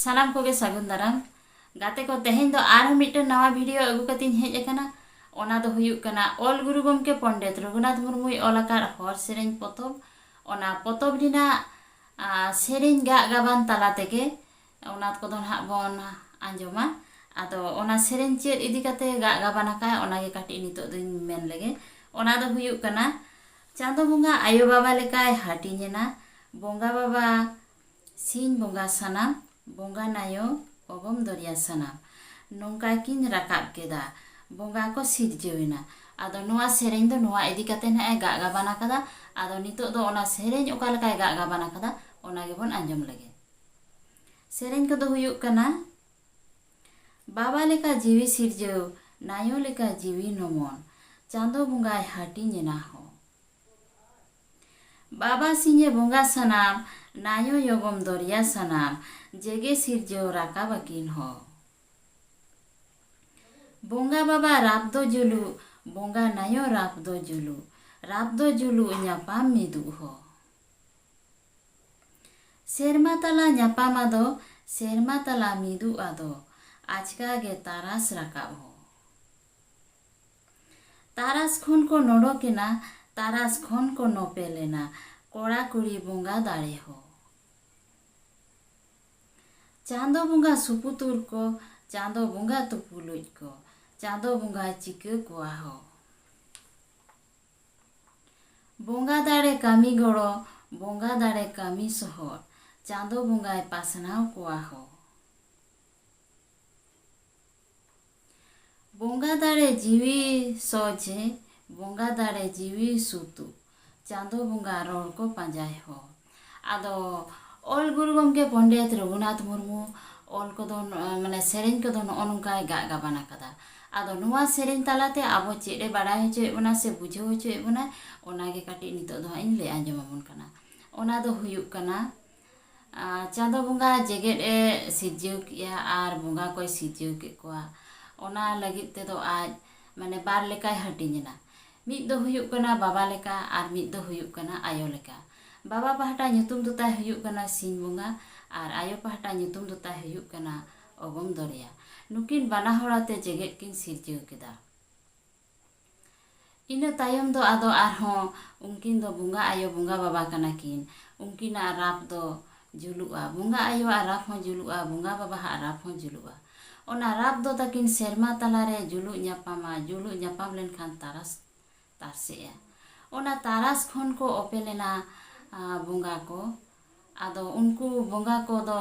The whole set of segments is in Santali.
ᱥᱟᱱᱟᱢ ᱠᱚᱜᱮ ᱥᱟᱹᱜᱩᱱ ᱫᱟᱨᱟᱢ ᱜᱟᱛᱮ ᱠᱚ ᱛᱮᱦᱮᱧ ᱫᱚ ᱟᱨᱦᱚᱸ ᱢᱤᱫᱴᱮᱱ ᱱᱟᱣᱟ ᱵᱷᱤᱰᱤᱭᱳ ᱟᱹᱜᱩ ᱠᱟᱛᱮᱧ ᱦᱮᱡ ᱟᱠᱟᱱᱟ ᱚᱱᱟ ᱫᱚ ᱦᱩᱭᱩᱜ ᱠᱟᱱᱟ ᱚᱞ ᱜᱩᱨᱩ ᱜᱚᱢᱠᱮ ᱯᱚᱱᱰᱤᱛ ᱨᱚᱜᱷᱩᱱᱟᱛᱷ ᱢᱩᱨᱢᱩᱭ ᱚᱞ ᱟᱠᱟᱫ ᱦᱚᱨ ᱥᱮᱨᱮᱧ ᱯᱚᱛᱚᱵ ᱚᱱᱟ ᱯᱚᱛᱚᱵ ᱨᱮᱱᱟᱜ ᱥᱮᱨᱮᱧ ᱜᱟᱜ ᱜᱟᱵᱟᱱ ᱛᱟᱞᱟ ᱛᱮᱜᱮ ᱚᱱᱟ ᱠᱚᱫᱚ ᱱᱟᱦᱟᱜ ᱵᱚᱱ ᱟᱸᱡᱚᱢᱟ ᱟᱫᱚ ᱚᱱᱟ ᱥᱮᱨᱮᱧ ᱪᱮᱫ ᱤᱫᱤ ᱠᱟᱛᱮ ᱜᱟᱜ ᱜᱟᱵᱟᱱ ᱟᱠᱟᱫ ᱚᱱᱟᱜᱮ ᱠᱟᱹᱴᱤᱡ ᱱᱤᱛᱚᱜ ᱫᱚᱧ ᱢᱮᱱ ᱞᱮᱜᱮ ᱚᱱᱟ ᱫᱚ ᱦᱩᱭᱩᱜ ᱠᱟᱱᱟ ᱪᱟᱸᱫᱚ ᱵᱚᱸᱜᱟ ᱟᱭᱳ ᱵᱟᱵᱟ ᱞᱮᱠᱟᱭ ᱦᱟᱹᱴᱤᱧᱮᱱᱟ ᱵᱚᱸᱜᱟ ᱵᱟᱵᱟ ᱥᱤᱧ ᱵᱚᱸᱜᱟ ᱥᱟᱱᱟᱢ ᱵᱚᱸᱜᱟ ᱱᱟᱭᱚ ᱚᱜᱚᱢ ᱫᱚᱨᱭᱟ ᱥᱟᱱᱟᱢ ᱱᱚᱝᱠᱟ ᱠᱤᱱ ᱨᱟᱠᱟᱵ ᱠᱮᱫᱟ ᱵᱚᱸᱜᱟ ᱠᱚ ᱥᱤᱨᱡᱟᱹᱣ ᱮᱱᱟ ᱟᱫᱚ ᱱᱚᱣᱟ ᱥᱮᱨᱮᱧ ᱫᱚ ᱱᱚᱣᱟ ᱤᱫᱤ ᱠᱟᱛᱮ ᱦᱟᱸᱜ ᱮ ᱜᱟᱜ ᱜᱟᱵᱟᱱ ᱟᱠᱟᱫᱟ ᱟᱫᱚ ᱱᱤᱛᱚᱜ ᱫᱚ ᱚᱱᱟ ᱥᱮᱨᱮᱧ ᱚᱠᱟ ᱞᱮᱠᱟᱭ ᱜᱟᱜ ᱜᱟᱵᱟᱱ ᱟᱠᱟᱫᱟ ᱚᱱᱟ ᱜᱮᱵᱚᱱ ᱟᱸᱡᱚᱢ ᱞᱮᱜᱮ ᱥᱮᱨᱮᱧ ᱠᱚᱫᱚ ᱦᱩᱭᱩᱜ ᱠᱟᱱᱟ ᱵᱟᱵᱟ ᱞᱮᱠᱟ ᱡᱤᱣᱤ ᱥᱤᱨᱡᱟᱹᱣ ᱱᱟᱭᱚ ᱞᱮᱠᱟ ᱡᱤᱣᱤ ᱱᱚᱢᱚᱱ ᱪᱟᱸᱫᱚ ᱵᱚᱸᱜᱟᱭ ᱦᱟᱹᱴᱤᱧ ᱮᱱᱟ ᱦᱚᱸ ᱵᱟᱵᱟ ᱥᱤᱧᱮ ᱵᱚᱸᱜᱟ ᱥᱟᱱᱟᱢ ᱱᱟᱧᱚ ᱭᱚᱜᱚᱢ ᱫᱚᱨᱭᱟ ᱥᱟᱱᱟᱢ ᱡᱮᱜᱮ ᱥᱤᱨᱡᱟᱹᱣ ᱨᱟᱠᱟᱵ ᱟᱹᱠᱤᱱ ᱦᱚ᱾ ᱵᱚᱸᱜᱟ ᱵᱟᱵᱟ ᱨᱟᱯ ᱫᱚ ᱡᱩᱞᱩᱜ ᱵᱚᱸᱜᱟ ᱱᱟᱧᱚ ᱨᱟᱯ ᱫᱚ ᱡᱩᱞᱩᱜ ᱨᱟᱯ ᱫᱚ ᱡᱩᱞᱩᱜ ᱧᱟᱯᱟᱢ ᱢᱤᱫᱩᱜ ᱦᱚ᱾ ᱥᱮᱨᱢᱟ ᱛᱟᱞᱟ ᱧᱟᱯᱟᱢ ᱟᱫᱚ ᱥᱮᱨᱢᱟ ᱛᱟᱞᱟ ᱢᱤᱫᱩᱜ ᱟᱫᱚ ᱟᱪᱠᱟ ᱜᱮ ᱛᱟᱨᱟᱥ ᱨᱟᱠᱟᱵ ᱦᱚ᱾ ᱛᱟᱨᱟᱥ ᱠᱷᱚᱱ ᱠᱚ ᱱᱚᱰᱚᱠ ᱮᱱᱟ ᱛᱟᱨᱟᱥ ᱠᱷᱚᱱ ᱠᱚ ᱱᱚᱯᱮᱞ ᱮᱱᱟ ᱠᱚᱲᱟ ᱠᱩᱲᱤ ᱵᱚᱸᱜᱟ ᱫᱟᱲᱮ ᱦᱳ᱾ ᱪᱟᱸᱫᱚ ᱵᱚᱸᱜᱟ ᱥᱩᱯᱩᱛᱩᱨ ᱠᱚ ᱪᱟᱸᱫᱚ ᱵᱚᱸᱜᱟ ᱛᱩᱯᱩᱞᱩᱡ ᱠᱚ ᱪᱟᱸᱫᱚ ᱵᱚᱸᱜᱟᱭ ᱪᱤᱠᱟᱹ ᱠᱚᱣᱟ ᱦᱳ᱾ ᱵᱚᱸᱜᱟ ᱫᱟᱲᱮ ᱠᱟᱹᱢᱤ ᱜᱚᱲᱚ ᱵᱚᱸᱜᱟ ᱫᱟᱲᱮ ᱠᱟᱹᱢᱤ ᱥᱚᱦᱚᱫ ᱪᱟᱸᱫᱚ ᱵᱚᱸᱜᱟᱭ ᱯᱟᱥᱱᱟᱣ ᱠᱚᱣᱟ ᱦᱳ᱾ ᱵᱚᱸᱜᱟ ᱫᱟᱲᱮ ᱡᱤᱣᱤ ᱥᱚᱡᱷᱮ ᱵᱚᱸᱜᱟ ᱫᱟᱲᱮ ᱡᱤᱣᱤ ᱥᱩᱛᱩᱜ ᱪᱟᱸᱫᱚ ᱵᱚᱸᱜᱟ ᱨᱚᱲ ᱠᱚ ᱯᱟᱸᱡᱟᱭ ᱦᱚᱲ ᱟᱫᱚ ᱚᱞ ᱜᱩᱨᱩ ᱜᱚᱢᱠᱮ ᱯᱚᱱᱰᱤᱛ ᱨᱚᱜᱷᱩᱱᱟᱛᱷ ᱢᱩᱨᱢᱩ ᱚᱞ ᱠᱚᱫᱚ ᱢᱟᱱᱮ ᱥᱮᱨᱮᱧ ᱠᱚᱫᱚ ᱱᱚᱜᱼᱚ ᱱᱚᱝᱠᱟᱭ ᱜᱟᱜ ᱜᱟᱵᱟᱱ ᱟᱠᱟᱫᱟ ᱟᱫᱚ ᱱᱚᱣᱟ ᱥᱮᱨᱮᱧ ᱛᱟᱞᱟᱛᱮ ᱟᱵᱚ ᱪᱮᱫ ᱮ ᱵᱟᱲᱟᱭ ᱦᱚᱪᱚᱭᱮᱫ ᱵᱚᱱᱟ ᱥᱮ ᱵᱩᱡᱷᱟᱹᱣ ᱦᱚᱪᱚᱭᱮᱫ ᱵᱚᱱᱟ ᱚᱱᱟᱜᱮ ᱠᱟᱹᱴᱤᱡ ᱱᱤᱛᱚᱜ ᱫᱚ ᱦᱟᱸᱜ ᱤᱧ ᱞᱟᱹᱭ ᱟᱸᱡᱚᱢ ᱟᱵᱚᱱ ᱠᱟᱱᱟ ᱚᱱᱟ ᱫᱚ ᱦᱩᱭᱩᱜ ᱠᱟᱱᱟ ᱪᱟᱸᱫᱚ ᱵᱚᱸᱜᱟ ᱡᱮᱜᱮᱫ ᱮ ᱥᱤᱨᱡᱟᱹᱣ ᱠᱮᱜᱼᱟ ᱟᱨ ᱵᱚᱸᱜᱟ ᱠᱚᱭ ᱥᱤᱨᱡᱟᱹᱣ ᱠᱮᱜ ᱠᱚᱣᱟ ᱚᱱᱟ ᱞᱟᱹᱜᱤᱫ ᱛᱮᱫᱚ ᱟᱡ ᱢᱟᱱᱮ ᱵᱟᱨ ᱞᱮᱠᱟᱭ ᱦᱟᱹᱴᱤᱧ ᱮᱱᱟ ᱢᱤᱫ ᱫᱚ ᱦᱩᱭᱩᱜ ᱠᱟᱱᱟ ᱵᱟᱵᱟ ᱞᱮᱠᱟ ᱟᱨ ᱢᱤᱫ ᱫᱚ ᱦᱩᱭᱩᱜ ᱠᱟᱱᱟ ᱟᱭᱳ ᱞᱮᱠᱟ ᱵᱟᱵᱟ ᱯᱟᱦᱴᱟ ᱧᱩᱛᱩᱢ ᱫᱚ ᱛᱟᱭ ᱦᱩᱭᱩᱜ ᱠᱟᱱᱟ ᱥᱤᱧ ᱵᱚᱸᱜᱟ ᱟᱨ ᱟᱭᱳ ᱯᱟᱦᱴᱟ ᱧᱩᱛᱩᱢ ᱫᱚ ᱛᱟᱭ ᱦᱩᱭᱩᱜ ᱠᱟᱱᱟ ᱚᱜᱚᱢ ᱫᱚᱨᱭᱟ ᱱᱩᱠᱤᱱ ᱵᱟᱱᱟ ᱦᱚᱲ ᱟᱛᱮ ᱡᱮᱜᱮᱫ ᱠᱤᱱ ᱥᱤᱨᱡᱟᱹᱣ ᱠᱮᱫᱟ ᱤᱱᱟᱹ ᱛᱟᱭᱚᱢ ᱫᱚ ᱟᱫᱚ ᱟᱨᱦᱚᱸ ᱩᱱᱠᱤᱱ ᱫᱚ ᱵᱚᱸᱜᱟ ᱟᱭᱳ ᱵᱚᱸᱜᱟ ᱵᱟᱵᱟ ᱠᱟᱱᱟ ᱠᱤᱱ ᱩᱱᱠᱤᱱᱟᱜ ᱨᱟᱛ ᱫᱚ ᱡᱩᱞᱩᱜᱼᱟ ᱵᱚᱸᱜᱟ ᱟᱭᱳᱣᱟᱜ ᱨᱟᱛ ᱦᱚᱸ ᱡᱩᱞᱩᱜᱼᱟ ᱵᱚᱸᱜᱟ ᱵᱟᱵᱟᱣᱟᱜ ᱨᱟᱛ ᱦᱚᱸ ᱡᱩᱞᱩᱜᱼᱟ ᱚᱱᱟ ᱨᱟᱛ ᱫᱚ ᱛᱟᱹᱠᱤᱱ ᱥᱮᱨᱢᱟ ᱛᱟᱞᱟ ᱨᱮ ᱡᱩᱞᱩᱜ ᱧᱟᱯᱟᱢᱟ ᱡᱩᱞᱩᱜ ᱧᱟᱯᱟᱢ ᱞᱮᱱᱠᱷᱟᱱ ᱛᱟᱨᱟᱥ ᱛᱟᱨᱥᱮᱜᱼᱟ ᱚᱱᱟ ᱛᱟᱨᱟᱥ ᱠᱷᱚᱱ ᱠᱚ ᱚᱯᱮᱞᱮᱱᱟ ᱵᱚᱸᱜᱟ ᱠᱚ ᱟᱫᱚ ᱩᱱᱠᱩ ᱵᱚᱸᱜᱟ ᱠᱚᱫᱚ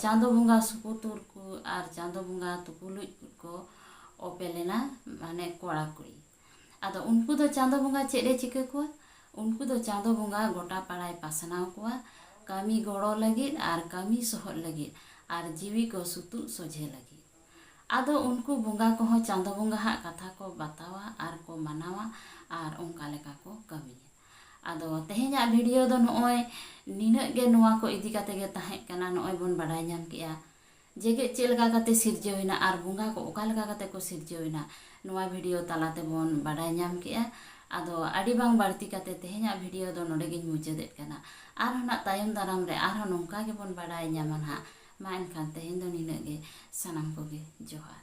ᱪᱟᱸᱫᱚ ᱵᱚᱸᱜᱟ ᱥᱩᱯᱩᱛᱩᱨ ᱠᱚ ᱟᱨ ᱪᱟᱸᱫᱚ ᱵᱚᱸᱜᱟ ᱛᱩᱯᱩᱞᱩᱡ ᱠᱚ ᱠᱚ ᱚᱯᱮᱞ ᱮᱱᱟ ᱢᱟᱱᱮ ᱠᱚᱲᱟ ᱠᱩᱲᱤ ᱟᱫᱚ ᱩᱱᱠᱩ ᱫᱚ ᱪᱟᱸᱫᱚ ᱵᱚᱸᱜᱟ ᱪᱮᱫ ᱮ ᱪᱤᱠᱟᱹ ᱠᱚᱣᱟ ᱩᱱᱠᱩ ᱫᱚ ᱪᱟᱸᱫᱚ ᱵᱚᱸᱜᱟ ᱜᱚᱴᱟ ᱯᱟᱲᱟᱭ ᱯᱟᱥᱱᱟᱣ ᱠᱚᱣᱟ ᱠᱟᱹᱢᱤ ᱜᱚᱲᱚ ᱞᱟᱹᱜᱤᱫ ᱟᱨ ᱠᱟᱹᱢᱤ ᱥᱚᱦᱚᱫ ᱞᱟᱹᱜᱤᱫ ᱟᱨ ᱡᱤᱣᱤ ᱠᱚ ᱥᱩᱛᱩᱜ ᱥᱚᱡᱷᱮ ᱞᱟᱹᱜᱤᱫ ᱟᱫᱚ ᱩᱱᱠᱩ ᱵᱚᱸᱜᱟ ᱠᱚᱦᱚᱸ ᱪᱟᱸᱫᱚ ᱵᱚᱸᱜᱟ ᱦᱟᱜ ᱠᱟᱛᱷᱟ ᱠᱚ ᱵᱟᱛᱟᱣᱟ ᱟᱨ ᱠᱚ ᱢᱟᱱᱟᱣᱟ ᱟᱨ ᱚᱱᱠᱟ ᱞᱮᱠᱟ ᱠᱚ ᱠᱟᱹᱢᱤᱭᱟ ᱟᱫᱚ ᱛᱮᱦᱮᱧᱟᱜ ᱵᱷᱤᱰᱤᱭᱳ ᱫᱚ ᱱᱚᱜᱼᱚᱭ ᱱᱤᱱᱟᱹᱜ ᱜᱮ ᱱᱚᱣᱟ ᱠᱚ ᱤᱫᱤ ᱠᱟᱛᱮ ᱜᱮ ᱛᱟᱦᱮᱸ ᱠᱟᱱᱟ ᱱᱚᱜᱼᱚᱭ ᱵᱚᱱ ᱵᱟᱰᱟᱭ ᱧᱟᱢ ᱠᱮᱜᱼᱟ ᱡᱮᱜᱮᱫ ᱪᱮᱫ ᱞᱮᱠᱟ ᱠᱟᱛᱮ ᱥᱤᱨᱡᱟᱹᱣ ᱮᱱᱟ ᱟᱨ ᱵᱚᱸᱜᱟ ᱠᱚ ᱚᱠᱟ ᱞᱮᱠᱟ ᱠᱟᱛᱮ ᱠᱚ ᱥᱤᱨᱡᱟᱹᱣ ᱮᱱᱟ ᱱᱚᱣᱟ ᱵᱷᱤᱰᱤᱭᱳ ᱛᱟᱞᱟ ᱛᱮᱵᱚᱱ ᱵᱟᱰᱟᱭ ᱧᱟᱢ ᱠᱮᱜᱼᱟ ᱟᱫᱚ ᱟᱹᱰᱤ ᱵᱟᱝ ᱵᱟᱹᱲᱛᱤ ᱠᱟᱛᱮ ᱛᱮᱦᱮᱧᱟᱜ ᱵᱷᱤᱰᱤᱭᱳ ᱫᱚ ᱱᱚᱰᱮ ᱜᱮᱧ ᱢᱩᱪᱟᱹᱫᱮᱫ ᱠᱟᱱᱟ ᱟᱨᱦᱚᱸ ᱱᱟᱜ ᱛᱟᱭᱚᱢ ᱫᱟᱨᱟᱢ ᱨᱮ ᱟᱨᱦᱚᱸ ᱱᱚᱝᱠᱟ ᱜᱮᱵᱚᱱ ᱵᱟᱰᱟᱭ ᱧᱟᱢᱟ ᱱᱟᱜ ᱢᱟ ᱮᱱᱠᱷᱟᱱ ᱛᱮᱦᱮᱧ ᱫᱚ ᱱᱤᱱᱟᱹᱜ ᱜᱮ ᱥᱟᱱᱟᱢ ᱠᱚᱜᱮ ᱡᱚᱦᱟᱨ